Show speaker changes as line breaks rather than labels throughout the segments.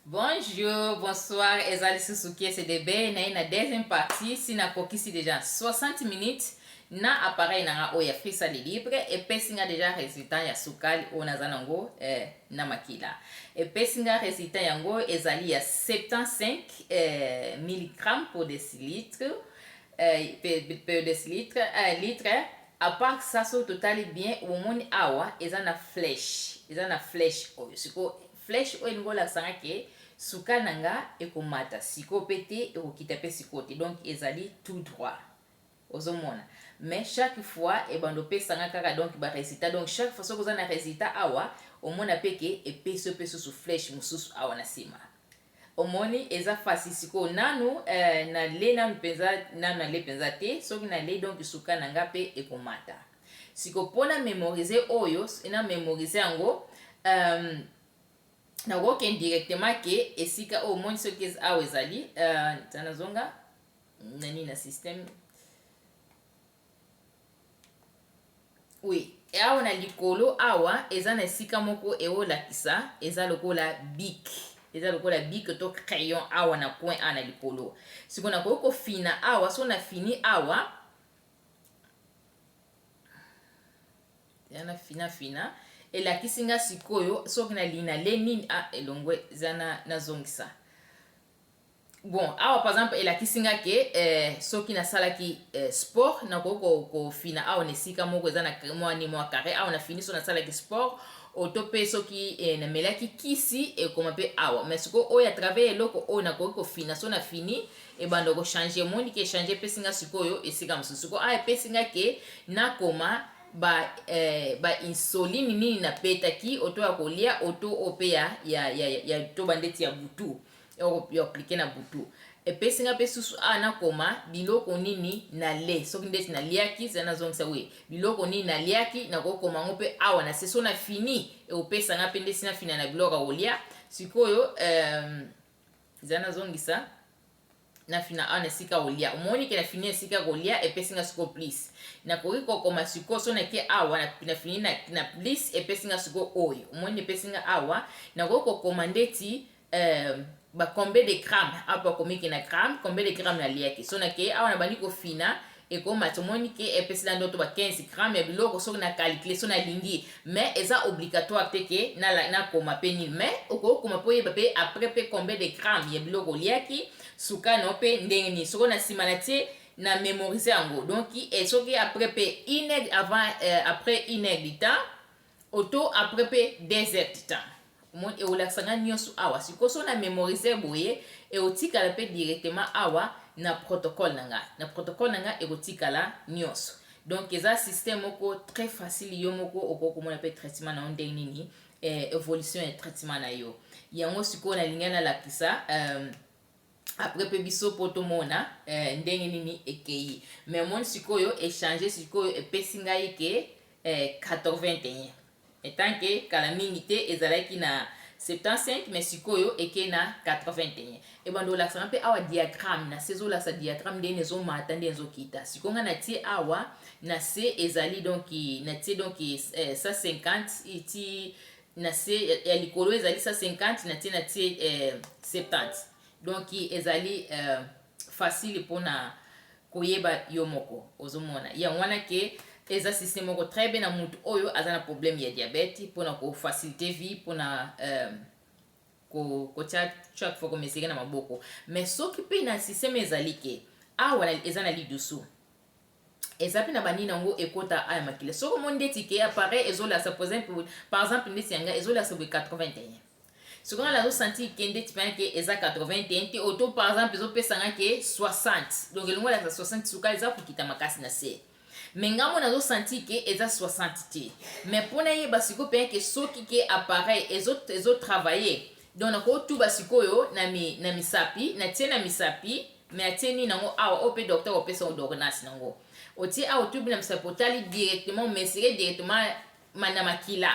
Bonjour, bonsoir, eza lisusu kiese de bay naye na deuxième partie si nakokisi déjà 60 minutes na appareil na nga oyo ya frisa de libre epesi nga déjà résultat ya sukali oyo naza nango eh, na makila epesi nga résultat yango ezali ya 75 eh, milligramme pour décilitre peu des litres eh, litre à part ça soki totali bien omoni awa eza na flèche eza na flèche oyo siko flèche oyo elingi olakisa nga ke suka na nga ekomata siko pe te ekokita pe siko te donc ezali tout droit ozomona mais chaque fois ebanda opesa nga kaka donc ba résultat donc chaque fois soki oza na résultat awa omona pe ke epesi yo pe susu flèche mosusu awa na nsima Omoni eza fasthi sikoyo nanu eh na le nanu penza nanu na le penza te soki na le donc suka na nga pe eko mata siko po na memorise oyo soki na memorise yango ehm na ko kende directement ke esika oyo omoni soki awa ezali eh tana zonga na nini na système Oui, awa na likolo awa eza na esika moko eolakisa eza lokola bic eza lokola bic to crayon awa na coin awa na likolo sikoyo nakoki kofina awa so nafini awa ya nafinafina elakisi nga sikoyo soki nalingi nale nini a ah, elongwe eza nazongisa Bon, awa par exemple elakisi nga ke eh, soki nasalaki eh, sport nakoki kofina awa na esika moko eza na mwa ni mwa carré awa na fini so nasalaki sport oto mpe soki eh, namelaki kisi ekoma mpe awa mais sikoyo oyo à travers eloko oyo nakoki kofina so na fini ebanda kochange emoni ke echange epesi nga sikoyo esika mosusu sikoyo awa epesi nga ke nakoma ba eh, ba insolini nini na petaki oto ya kolia oto oyo mpe ya, ya, ya, ya toba ndeti ya butu ya aplike na butu epesi nga mpe susu awa nakoma biloko nini nale soki ndeti naliaki zala nazongisa we biloko nini naliaki nakokoma yango mpe awa na se so na fini ekopesa nga mpe ndeti nafina na biloko ya kolia sikoyo um, zala nazongisa na fina awa na esika olia omoni ke na fini esika kolia epesi nga siko plus nakoki kokoma siko so nake awa na fini na, na plus epesi nga siko oyo omoni epesi nga awa nakoki kokoma ndeti euh, ba combien de gramme apo akomi ke na gramme combien de gramme naliaki so nake awa nabandi kofina ekoma tomoni ke epesi na ndoto ba 15 grammes ya biloko soki na calcule so nalingi mais eza obligatoire te ke nakoma pe nini mais okokoma mpo oyeba pe après pe combien de grammes ya biloko oliaki sukano pe ndenge nini soko na nsima na tie na memorise yango donc eh, soki après pe une avant euh, après une heure du temps Oto apres pe deux heures du temps. Omoni ekolakisa nga nionso awa sikoyo soki na memorise boye ekotikala pe directement awa na protocole na nga na protocole na nga ekotikala nionso donc eza système moko très facile yo moko okoki komona pe traitement na yo ndenge nini eh, evolution ya traitement na yo yango sikoyo nalingi nalakisa euh, après pe biso po tomona eh, ndenge nini ekeyi mais omoni sikoyo echange sikoyo epesi ngai ke eh, 81 etant ke kala mingi te ezalaki na 75 mais sikoyo eke na 81 ebanda olakisaka mpe awa diagramme na se ezolakisa diagramme ndeni ezomata ndeni ezokita sikoyo ngai natie awa na se ezali donki natie donki eh, 150 iti na se ya likolo ezali 150 na tie na tie eh, 70 donc ezali eh, facile mpona koyeba yo moko ozomona yango wana ke eza système moko très bien na motu oyo aza na problème ya diabète mpona kofacilite vie mpona euh, kotya chaque fois komeseke na maboko mais soki mpe na système ezali ke awa eza na lidusu eza pe na ba nini yango ekota aya makila soki omoni ndeti ke appareil ezolasa par exemple par exemple ndeti ya ngai ezolasa boye 81 soki ngai nazo sentir ke ndeti pena ke eza 81 te oto par exemple ezopesa ngai ke 60 donc elongo elasa 60 suka eza kokita makasi na se me ngai mo nazo sentir ke eza 60 te me mpo nayeba sikoyo pena ke soki ke appareil ezo, ezo travailler Donc nako tuba sikoyo na mi na misapi na tie na misapi me atie nini nango awa oyo mpe docteur opesa odornasi nango otie awa otubi na misapi otali directement mesire directement na makila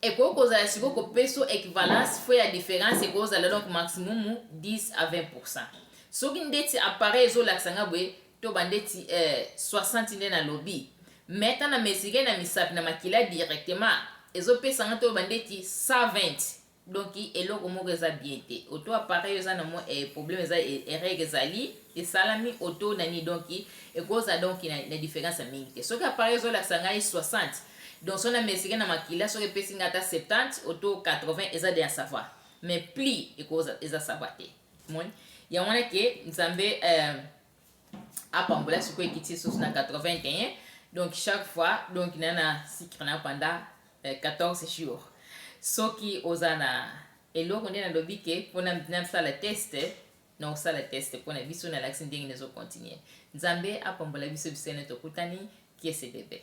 ekoki kozala sikoyo kopeso equivalence fo ya différence ekoki kozala donc maximum 10 à 20 pourcent soki ndeti appareil ezolakisa nga boye to ba ndeti eh 60 nde na lobi mais ta na mesure na misapi na makila directement ezo pesa nga to ba ndeti 120 donc eloko moko eza bien te auto appareil eza na mwa eh, problème eza eh, erreur ezali esalami auto na ni donc ekoza donc na, na différence ya mingi te soki appareil ezo lakisa ngai 60 donc so na mesure na makila soki epesi ngai ata 70 auto 80 eza de ya savoir mais plus ekoza eza savoir te Omoni? Yango wana ke Nzambe eh, apambola sikoyo ekiti lisusu na 81 donc chaque fois donc na na sikre na pendant eh, 14 jours soki oza na eloko nde nalobi ke mpo nasala teste na osala teste mpo na biso nalakisi ndenge nazokontinue nzambe apambola biso biso ene tokutani kiese bebe